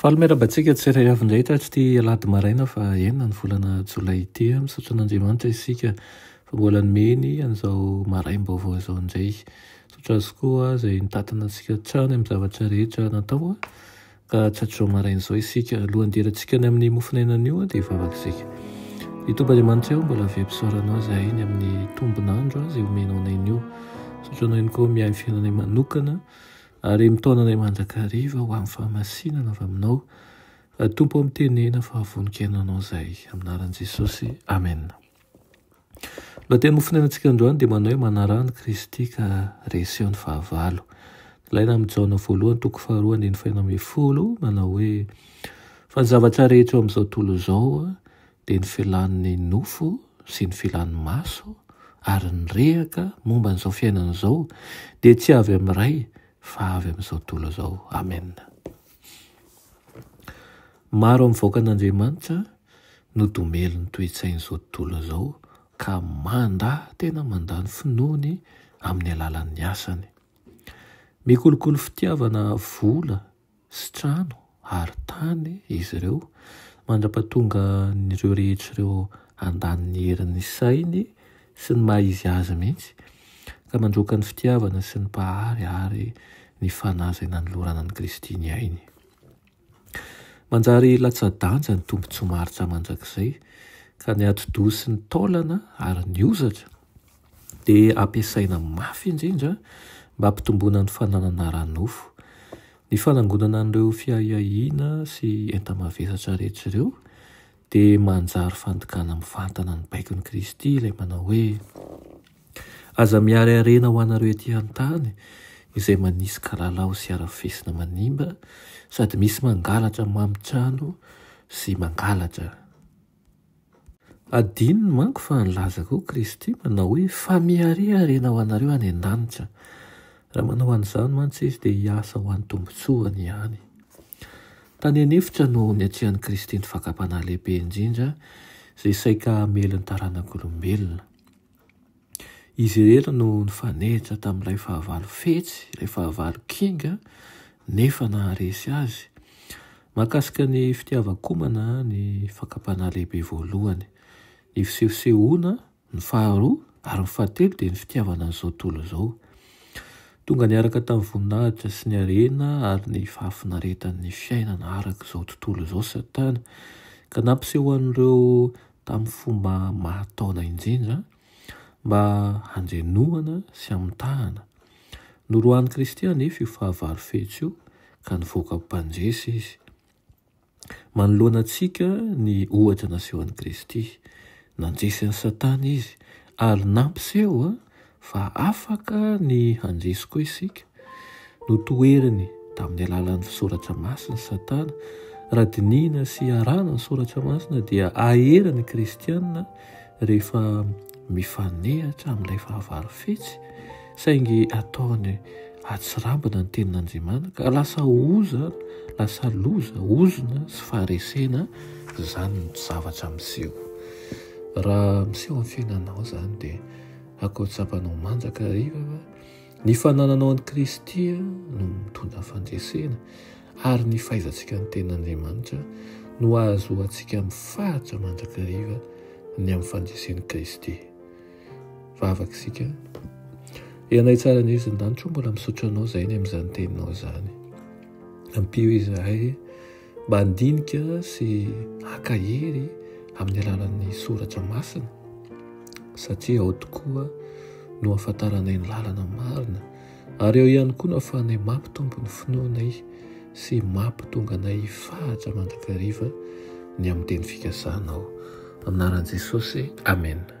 Faly miarahaba antsika tsirairay avy indray tato ity alahady maraina faha enina ny volana jolay ity. Misaotra an'Andriamanitra isika fa mbola nomeny an'izao maraim-baovao izao indray. Misaotra Azy koa izay nitantana antsika hatrany amin'ny zavatra rehetra natao ka hatratr'izao maraina izao isika. Alohan'ny hidirantsika any amin'ny mofon'ainana io dia hivavaka isika. Ry Tompo Andriamanitra eo, mbola vem-pisaorana Anao izahay ny amin'ny tombon'andro izay omenao anay anio. Misaotra Anao ihany koa miahy ny fiainanay manokana. Ary mitaona anay mandrakariva ho amin'ny fahamasinana avy aminao, Ry Tompo ô, mitenena fa vononkenanao izay. Amin'ny anaran'i Jesosy, amena. Ny lohatenin'ny mofonenan-tsika androany dia manao hoe Manaraha an'i Kristy ka reseho ny fahavalo. Nilaina amin'i Jaona voalohany toko faharoa andininy fahenina ambin'ny folo, manao hoe, Fa ny zavatra rehetra eo amin'izao tontolo izao, dia ny filan'ny nofo sy ny filan'ny maso ary ny rehaka momba an'izao fiainana izao dia tsy avy amin'ny Ray fa avy amin'izao tontolo izao. Amen. Maro amin'ny vahoakan'Andriamanitra no domelin'ny toe-tsain'izao tontolo izao ka mandà tena mandà ny finoany amin'ny alalan'ny asany. Mikolokolo fitiavana vola sy trano ary tany izy ireo mandra-pahatonga an'ireo rehetra ireo handany ny herin'ny sainy sy ny maha izy azy mihitsy ka mandroaka ny fitiavana sy ny Mpahary ary ny Fanahy izay nanolorana an'i Kristy ny ainy. Manjary latsa-danja ny tombontsoa maharitra mandrakizay ka ny atidoha sy ny taolana ary ny hozatra dia ampiasaina mafy indrindra mba hampitomboana ny fananana ara-nofo. Ny fanangonana an'ireo fiahiahiana sy enta-mavesatra rehetra ireo dia manjary fandikana mivantana ny baikon'i Kristy ilay manao hoe, Aza miarearena ho anareo ety an-tany izay manisy kalalao sy arafesina manimba sady misy mangalatra mamitrano sy mangalatra. Adinony manko fa nilaza koa Kristy manao hoe, Fa miariariana ho anareo any an-danitra. Raha manao an'izany mantsy izy dia hiasa ho an'ny tombontsoany ihany. Tany an'efitra no niatrehan'i Kristy ny fakam-panahy lehibe indrindra izay saika hamely ny taranak'olombelona. Izy irery no nifanehitra tamin'ilay fahavalo fetsy, ilay fahavalo kinga, nefa naharesy azy. Mahakasika ny fitiavan-komana ny fakam-panahy lehibe voalohany. Ny fisehosehoana, ny faharoa, ary ny fahatelo dia ny fitiavana an'izao tontolo izao. Tonga niaraka tamin'ny voninahitra sy ny harena ary ny fahafinaretan'ny fiainana araka izao tontolo izao Satana, ka nampisehoan'ireo tamin'ny fomba mahataona injindra mba handrenohana sy hamitahana. Noroahan'i Kristy anefa io fahavalo fetsy io ka nivoaka mpandresy izy. Manoloana antsika ny ohatra nasehon'i Kristy. Nandresy an'i Satana izy ary nampiseho Fa afaka ny handresy koa isika. Notoheriny tamin'ny alalan'ny fisoratra masina i Satana. Raha dinihina sy iarahana ny soratra masina dia hahery ny kristiana rehefa mifanehatra amin'ilay fahavalo fetsy saingy ataony hatsirambina ny tenin'Andriamanitra ka lasa oza, lasa loza, ozona sy faharesena izany ny zavatra miseho. Raha miseho amin'ny fiainanao izany dia. Akory tsapanao mandrakariva fa ny fanananao an'i Kristy no mitondra fandresena ary ny fahaizantsika ny tenan'Andriamanitra no ahazoantsika amin'ny faritra mandrakariva ny amin'ny fandresen'i Kristy. Vavaka isika. Ianay tsara ny izy ndanitro mbola misaotra anao izay ny amin'izany teninao izany. Ampio izahay Mba handinika sy haka hery amin'ny alalan'ny soratra masina, satria ao tokoa no ahafantaranay ny lalana marina, ary ao ihany koa no ahafahanay mampitombo ny finoanay sy mampitonga anay hifahatra mandrakariva ny amin'ny teny fikasanao. Amin'ny anaran'i Jesosy, amena.